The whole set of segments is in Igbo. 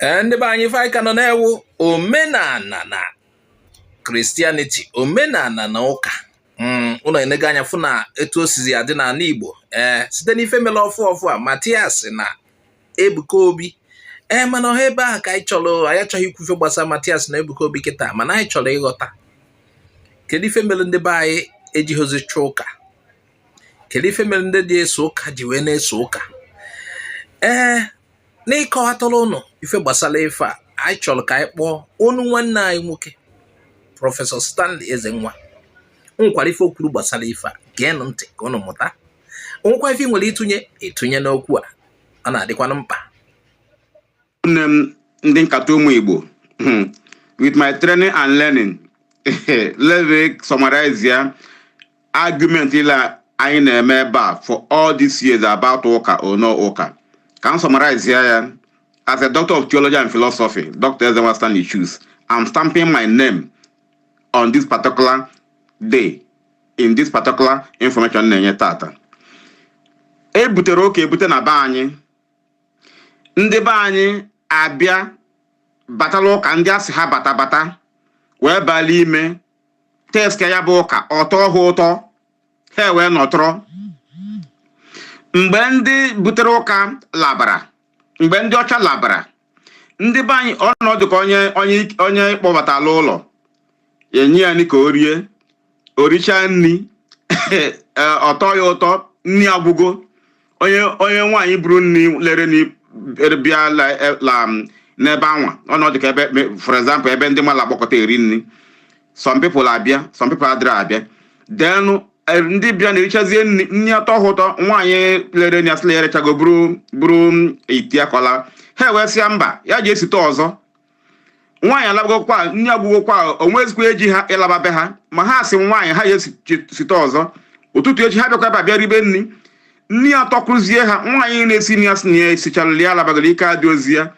ee ndị be anyị ife a ka nọ na-ewu omenala na Christianity omenala na ụka mm, ụnụ enego anya fụ na etu o sizi adị n'ala igbo ee site n'ife mere ọfụ ọfụ a matias na ebuka obi ee mana ọha ebe ahụ ka anyị chọrọ anyị achọghị ikwu ife gbasara matias na ebuka obi kịta mana anyị chọrọ ịghọta kedu ife mere ndị be anyị ejighịzi achọ ụka kedu ife mere ndị dị eso ụka ji wee na-eso ụka ee n'ịkọwatara ụnụ ife gbasara ife a anyị chọrọ ka anyị kpọọ ụnụ nwanne anyị nwoke prọfesọ Stanley Ezenwa o nwekwara ife o kwuru gbasara ife a geenụ ntị ka ụnụ mụta o nwekwa ife i nwere ịtụnye ị tụnye n'okwu a ọ na-adịkwanụ mkpa nne m ndị nkata ụmụ Igbo hmm, with my training and learning let me summarize ya argument niile anyị na-eme ebe a for all these years about ụka or no ụka ka m summarize ya ya as a doctor of theology and philosophy dr ezenwa stanley chuks i'm stamping my name on this particular day in this particular information m na-enye tata e butere ụka ebute na be anyị ndị be anyị abịa batala ụka ndị a sị ha bata bata wee bala ime taste ya bụ ụka ọ tọọ ha ụtọ ha wee nọtọrọ mgbe ndị butere ụka labara mgbe ndị ọcha labara ndị be anyị ọ nọdụ ka onye onye onye kpọbatala ụlọ enye ya nri ka o rie o richaa nri ọ tọọ ya ụtọ nri agwụgo onye onye nwaanyị buru nri lere nri er, bịa la- e- la, m, n'ebe anwa ọ nọdụ ka ebe me- for example ebe ndị mmadụ agbakọta eri nri some people abịa some people adịrị abịa then eh, ndị bịa na-erichazie nri nri atọọ ha ụtọ nwaanyị lere nri asị la ya erechago buru buru mm, ite ya ka ọ laa ha ewee sị ya mba ya jee site ọzọ nwaanyị alabagokwa nri agwụgokwa o nwezikwa eji ha ịlaba be ha ma ha sị nwaanyị ahụ ya esite ọzọ ụtụtụ echi ha bịakwa ebe a bịa ribe nri nri atọkwuzie ha nwaanyị na-esi nri asị na ya esichala ya alabago ike adịrọzi ya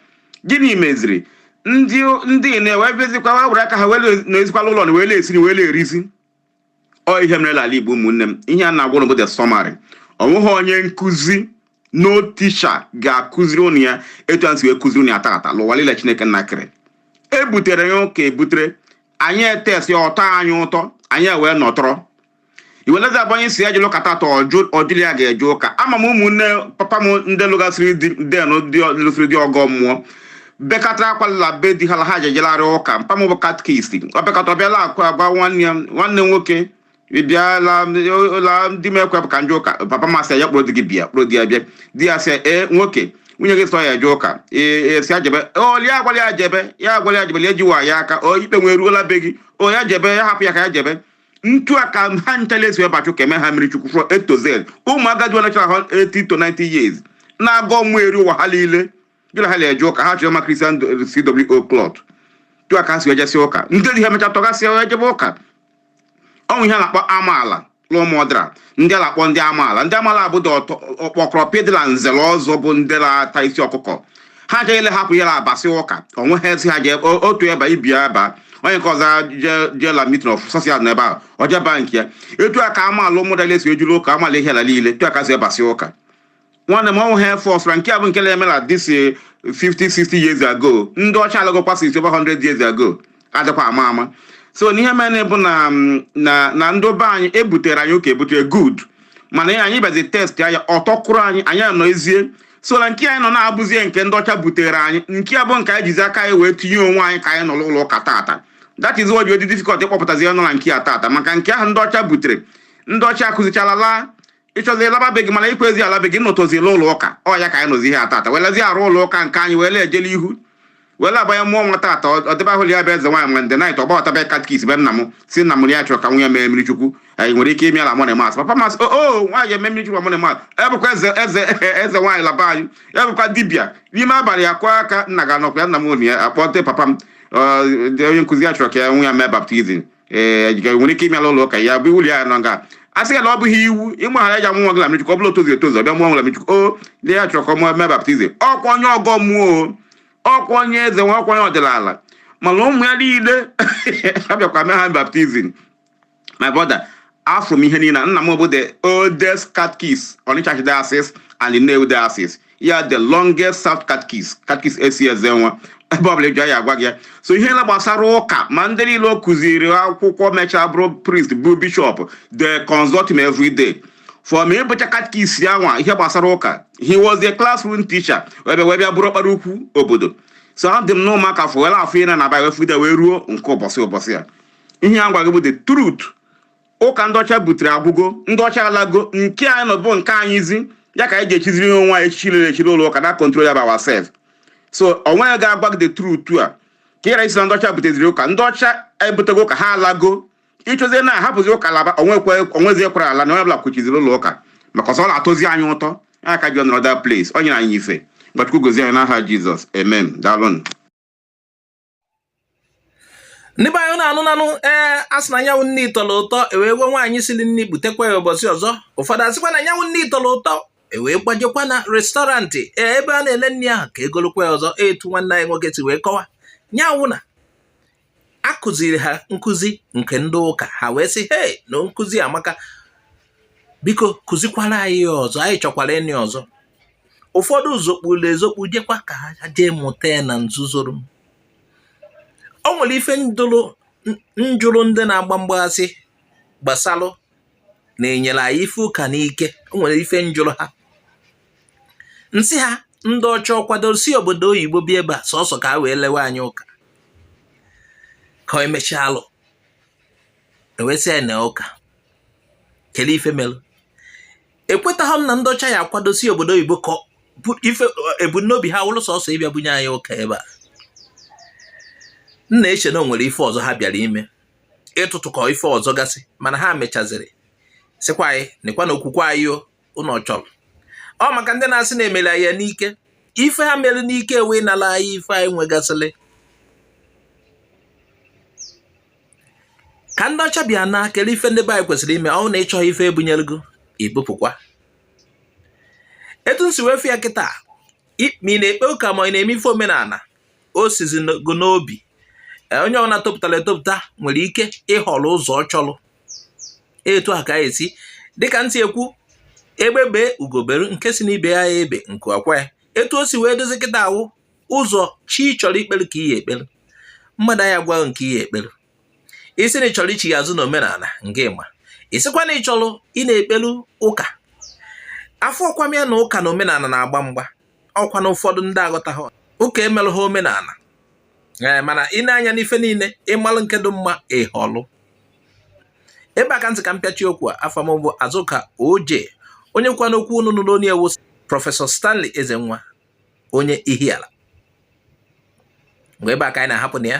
gịnị meziri ndị ndị na-ewe bezikwa were aka ha wee na-esikwa l'ụlọ na wee na-esi na wee na-erizi ọ ihe mere n'ala Igbo ụmụnne m ihe m na-agwa ụnụ bụ the summary o nweghị onye nkụzi no teacher ga-akụziri ụnụ ya etu a m si wee kụziri ụnụ ya tata l'ụwa niile Chineke nna kere e butere ya ụka ebutere anyị etaste ọ tọọ anyị ụtọ anyị ewee nọtọrọ iwelezi abanye sị ya jee l'ụka tata ọ jụ la ya ga-eje ụka ama m ụmụnne papa m ndị lụgasịrị then ndị lụsịrị di ọgọ mmụọ bekatara akwa la be di ha la ha jejelarị ụka mpa m bụ catechist ọ bekata ọ bịala akụ agwa nwanne ya nwanne nwoke ị bịala la di m ekwe ka m jee ụka papa m asị ya kpụrụ di gị bịa kpụrụ di ya bịa di ya sị ee nwoke nwunye gị sị ọ ya-eje ụka ee sị ya jebe oli ya agwala ya jebe ya agwala ya jebe lie jiwa ya aka o ikpe nwee ruola be gị o ya jebe ya hapụ ya ka ya jebe ntu a ka ha nchala esi wee bachaa ụka e mee ha mmiri chukwu from A to Z ụmụ agadi ọnachara ha 80 to 90 years na-agọ mmụọ eri ụwa ha niile gị na ha na-eje ụka ha chọrọ ma Christian CWO cloth tu a ka ha si ejesi ụka ndị di ha emecha tọgasịa ejebe ụka o nwe ihe a na-akpọ amaala l'Ụmụdara ndị a na-akpọ ndị amaala ndị amaala bụ ndị ọkpọkọrọpị dị na nze na ọzọ bụ ndị na-ata isi ọkụkọ ha agaghị ele hapụ ya na abasị ụka onwe ha esi ha jee o- otu ebe ibi ya ebe a, onye nke ọzọ je- jee la meeting of social na ebe a o je baa nke ya etu a ka amaala Ụmụdara esi ejuru ụka amaala Ihiala niile etu a ka si ebasị ụka nwanne m ọnwụ ha force na nke a bụ nke na-eme na this eh, 50 60 years ago ndị ọcha alagokwa since over 100 years ago adịkwa ama ama so n'ihe mere bụ na mm, na na ndị be anyị ebutere anyị ụka ebutere good mana ya anyị bịazi taste ya ọ tọkwuru anyị anyị anọzie so na nke anyị nọ na-abụzie nke ndị ọcha butere anyị nke a bụ nke anyị jizi aka anyị wee tinye onwe anyị ka anyị nọ n'ụlọ ụka tata that is why o ji dị difficult ịkpọpụtazi onye nọ na nke a tata maka nke ahụ ndị ọcha butere ndị ọcha akụzichala laa ị chọzi ịlaba be gị mana i kwezi ala be gị nọtọzi l'ụlọ ụka ọ ya ka anyị nọzi ihe a tata welezi arụ ụlọ ụka nke anyị wele ejele ihu wele abanye mmụọ nwa tata ọdịba ahụ ya bụ eze nwaanyị ma ndị knight ọ gbagote be catechist be nna m sị nna m ya chọrọ ka nwa ya mee mmiri chukwu anyị nwere ike ime ya la morning mass papa m asị o oh, oh, nwaanyị emee mmiri chukwu morning mass ebụkwa eze eze eze nwaanyị la be anyị ebụkwa dibịa n'ime abalị ya kụọ aka nna gị ọ nọkwa ya nna m onye akpọte papa m onye nkụzi ya chọrọ ka nwa ya mee baptizim ee ga- nwere ike ime ya l'ụlọ ụka ya bụ iwu la ya nọ nga a sị ya na ọ bụghị iwu ịmara ya ji amụ nwa gị na mmiri chukwu ọ bụla o tozu etozu ọ bịa mụọ nwa la mmiri chukwu o ndị ya chọrọ ka ọ mụọ mee baptizim ọ kwa onye ọgọ mmụọ o, ọ kwa onye eze nwa ọ kwa onye ọdịnala mana ụmụ ya niile abịakwa mee ha baptizim my brother afụ m ihe niile nna m bụ the oldest catechist Onitsha Archdiocese and the Nnewi Diocese ya the longest served catechist catechist esi Ezenwa ebe ọbụla i je a gwa gị ya so ihe na gbasara ụka ma ndị niile ọ kụziri akwụkwọ mechaa bụrụ priest bụ bishop they consult him every day for me ịbụcha catechist ya nwa ihe gbasara ụka he was a classroom teacher ebe wee bịa bụrụ ọkpara ukwu obodo so adị m n'ụmụaka fụwela afụ ị na na wee fụgide wee ruo nke ụbọchị ụbọchị ya ihe a gwa gị bụ the truth ụka ndị ọcha butere agwụgo ndị ọcha alago nke anyị nọ bụ nke anyịzi ya ka anyị ji echiziri ihe onwe anyị echichi rere echiri ụlọ ụka na control ya by ourselves so o nweghị ga-agwa gị the truth a ka ịra isi na ndị ọcha buteziri ụka ndị ọcha ebutego ụka ha alago ị chọzie na a hapụzi ụka laba onwezi ekwere ala na onye ọbụla kwuchiziri ụlọ ụka maka ọsọ ọ na-atụzi anyị ụtọ ya ka a ji anọrọ that place ọ nyere anyị ife ka Chukwu gozie anyị n'aha jizọs amen daalụnụ ndị be anyị unu anụnanụ ee a sị na nya wụ nni tọrọ ụtọ e wee gwa nwaanyị siri nni butekwa ya ụbọchị ọzọ ụfọdụ asịkwa na nya wụ nni tọrọ ụtọ e wee gbajekwa na restọrantị ee ebe a na-ele nni ahụ ka e golukwa ya ọzọ etu nwanne anyị nwoke si wee kọwa nya wụ na a kụziri ha nkụzi nke ndị ụka ha wee sị hei na nkụzi amaka biko kụzikwara anyị ya ọzọ anyị chọkwara ịnụ ọzọ ụfọdụ zokpuru ezokpu jekwa ka ha jee mụta ya na nzuzoro o nwere ife m jụrụ ndị na-agba mgba asị gbasalụ na e nyere anyị ife ụka n'ike o nwere ife m jụrụ ha m sị ha ndị ọcha ọ kwadoro si obodo oyibo bịa ebe a sọsọ ka ha wee lewe anyị ụka ka e mechaa alụ ewesịa na ụka kele ife mere ekwetaghị m na ndị ọcha ya-akwado si obodo oyibo ka ife ebumnobi ha wụrụ sọsọ ịbịa bunye anyị ụka ebe a m na-eche na o nwere ife ọzọ ha bịara ime ịtụtụkọ ife ọzọ gasị mana ha mechaziri sịkwa anyị nekwanụ okwukwe anyị o unu ọ chọrọ ọ maka ndị na-asị na e mere anyị ya n'ike ife ha mere n'ike wee nala anyị ife anyị nwegasịrị ka ndị ọcha bịa naa kele ife ndị be anyị kwesịrị ime ọ wụ na ị chọghị ife e bunyere gị i bupụkwa etu m si wee fụ ya kịta ma ị na-ekpe ụka ma ị na-eme ife omenala o sizi gị n'obi e, onye ọbụla topụtara etopụta nwere ike ịhọrọ ụzọ ọ chọrọ etu a ka anyị esi dịka m si ekwu egbe bere ugo bere nke sị n'ibe ya ebe nku akwaa ya etu o si wee dịzi kịtaa wụ ụzọ chi ị chọrọ ikpere ka ị ya-ekpere mmadụ aya agwa gị nke ị ya-ekpere ị sị na ị chọrọ ichigha azụ na omenala nke ịma ị sịkwa na ị chọrọ ịna-ekpelu ụka afụkwa m ya na ụka na omenala na-agba mgba ọkwa na ụfọdụ ndị aghọtaghị ụka emelụ ha omenala ee eh, mana i nee anya n'ife niile ị malụ nke dị mma ị họlụ ebe a ka m sị ka m pịachi okwu a afa m bụ Azụka Oje onye ọka n'okwu unu nụrụ onu ya wụ prọfesọ Stanley Ezenwa onye Ihiala mgbe ebe a ka anyị na-ahapụ na ya